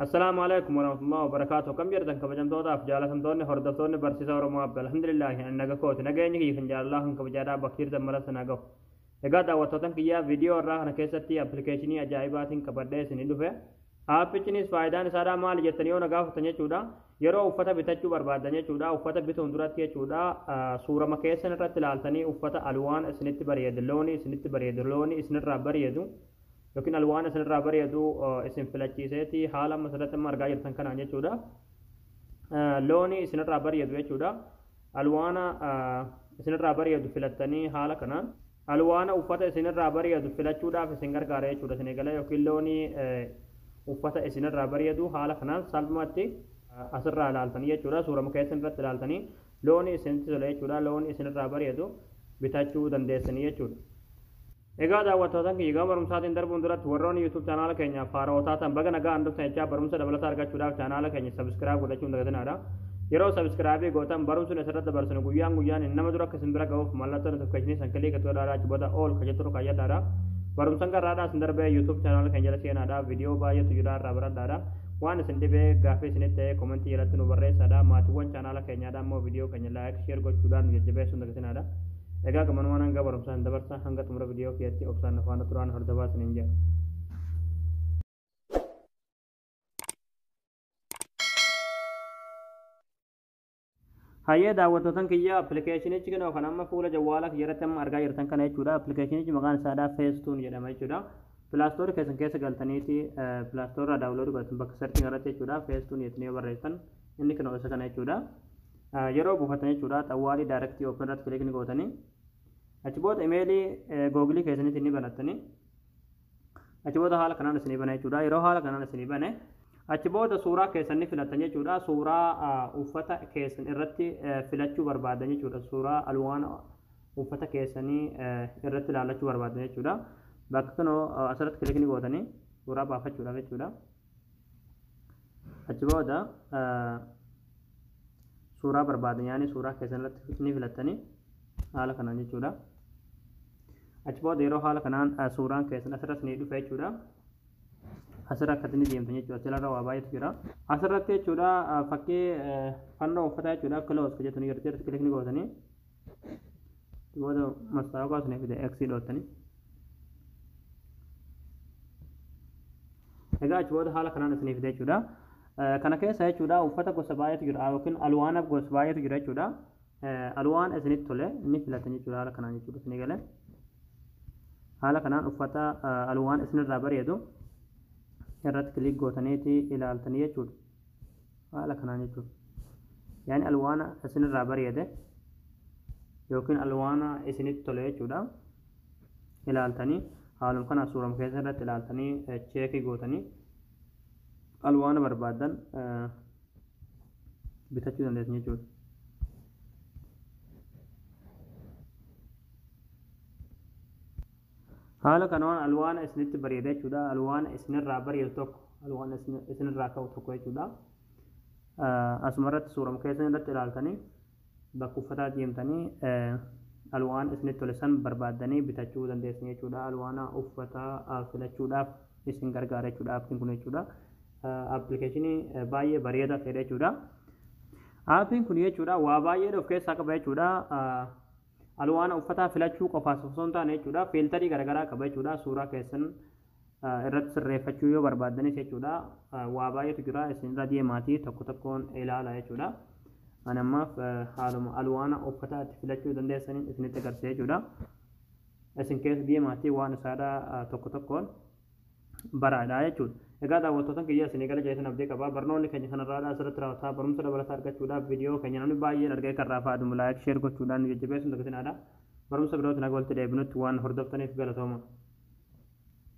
Assalaamu alaikum warahmatullahi wabarakaatu akkam jirtan kabajamtootaaf jaalatamtoonni hordoftoonni barsiisa Oromoo Abba alhamdulillaahi ani naga kooti nageenyi kiyya kan jaalalaa kan kabajaadhaa bakka jirtan maratti na gahu egaa daawwattootan kiyyaa viidiyoo irraa kana keessatti appilikeeshinii ajaa'ibaatiin qabadhee isin dhufe aappichinis faayidaan isaadhaa maali jettanii yoo na gaafattan jechuudha yeroo uffata bitachuu barbaaddan jechuudha uffata bituun duratti jechuudha suurama keessan irratti ilaaltanii uffata alwaan isinitti bareedu looni isinitti bareedu looni isinirraa bareedu yookiin al waan isinirraa bareedu isin filachiiseeti haala amma asirratti amma argaa jirtan kanaan jechuudha. Looni isinirraa bareedu jechuudha. Alwaana isinirraa bareedu filattanii haala kanaan alwaana uffata isinirraa bareedu filachuudhaaf isin gargaara jechuudha isin eegala yookiin looni uffata isinirraa bareedu haala kanaan salphumatti asirraa ilaaltanii jechuudha suura muka isinirratti ilaaltanii looni isinitti tola jechuudha looni isinirraa bareedu bitachuu dandeessanii jechuudha. Egaa daawwattootan kiyya gama barumsaatiin darbuun duratti warroonni YouTube chaanaala keenyaaf haara'oo taatan baga nagaa handhuftan jechaa barumsa dabalataa argachuudhaaf chaanaala keenya sabiskiraayib godhachuun dagatinaadha. Yeroo sabiskiraayibii gootan barumsuun asirratti dabarsinu guyyaan guyyaan nama dura akka isin bira ga'uuf mallattoo notifikashinii san kiliika itti godhaadhaa cubata ool ka jettu kayyadhaadha. Barumsan garraadhaa isin darbee YouTube chaanaala keenya jala seenaadha. Viidiyoo baay'eetu jira irraa baradhaadha. Waan isin dhibee gaaffii isinitti ta'e komentii jalatti nu barreessaadha. Maatiiwwan chaanaala keenyaadha immoo viidiyoo keenya laayik sheer gochuudhaan nu jajjabeessuun dagatinaadha. Egaa gamanumaan hanga barumsaan dabarsa hanga xumura viidiyoo kiyatti obsaan afaana turaan hordofaa isiniin jedha. Hayyee daawwattootan kiyya appilikeeshinichi kenoo kan amma fuula jawwaala kiyya irratti amma argaa jirtan kana jechuudha. Appilikeeshinichi maqaan isaadhaa feestuun jedhama jechuudha. Pilaastoori keessan keessa galtaniiti pilaastoorraa daawunloodii godhatan bakka sarchiin irratti jechuudha. Feestuun jettanii yoo barreessan inni kenoo isa kana jechuudha. Yeroo buufattan jechuudha xawwaalii direct open irratti click ni gootanii achi booda imeelii googilii keessaniitiin ni banattanii achi booda haala kanaan isinii bana jechuudha yeroo haala kanaan isinii bane achi booda suuraa keessan ni filattan jechuudha suuraa uffata keessan irratti filachuu barbaadan jechuudha suuraa alwaan uffata keessanii irratti ilaallachuu barbaadan jechuudha bakka kanoo asirratti click ni gootanii suuraa baafachuudhaaf jechuudha. achi booda suuraa barbaadan yaani suuraa keessan irratti ni filattanii haala kanaan jechuudha achi booda yeroo haala kanaan suuraan keessan asirratti ni dhufa jechuudha asirra akkatti ni deemtan jechuudha asirra waa baay'eetu jira asirratti jechuudha fakkii fannoo uffataa jechuudha kiloos jedhatu ni jirti irratti kilikni gootanii booda mastaawaqaa isinii fida x dhoottanii egaa achi booda haala kanaan isinii fida jechuudha kana keessa jechuudha uffata gosa baay'eetu jira yookiin alwaana gosa baay'eetu jira jechuudha alwaan isinitti tole ni filatan jechuudha haala kanaan jechuudha isinii galee haala kanaan uffata alwaan isinirraa bareedu irratti kiliik gootaniiti ilaaltanii jechuudha haala kanaan jechuudha. Yaani alwaana isinirraa bareede yookiin alwaana isinitti tole jechuudha. Ilaaltanii haaluma kana suurama keessa irratti ilaaltanii cheekii gootanii alwaana barbaadan bitachuu dandeessan jechuudha. Haala kanaan alwaana isinitti bareeda jechuudha. Alwaana isinirraa bareedu tokko, alwaana isinirraa ka'u tokko jechuudha. Asuma irratti suurama keessan irratti ilaaltanii bakka uffataa deemtanii alwaana isinitti tole san barbaaddanii bitachuu dandeessan jechuudha. Alwaana uffataa filachuudhaaf isin gargaara jechuudha aappiin kun jechuudha. Appilikeeshinii baay'ee bareedaa ta'edha jechuudha. Aappiin kun jechuudha waa baay'ee of keessaa qaba jechuudha. Alwaana uffataa filachuu qofaas osoo hin taane jechuudha fiiltarii garagaraa qaba jechuudha suuraa keessan irratti sirreeffachuu yoo barbaaddanis jechuudha waa baay'eetu jira isin irra deemaatii tokko tokkoon ilaala jechuudha ani ammaaf haaluma alwaana uffataa itti filachuu dandeessaniin isinitti agarsiisa jechuudha isin keessa deemaatii waan isaadha tokko tokkoon baraadha jechuudha. Egaa daawwattootan kiyya isinii gala jeetan abdii qaba. Barnoonni keenya kanarraadha asirratti raawwata. Barumsa dabalataa argachuudhaaf viidiyoo keenya namni baay'een argee kan raafaadhu like share gochuudhaan nu jajjabeessuun dagatinaadha. Barumsa birootiin haga walitti deebinutti waan hordoftaniif galatooma.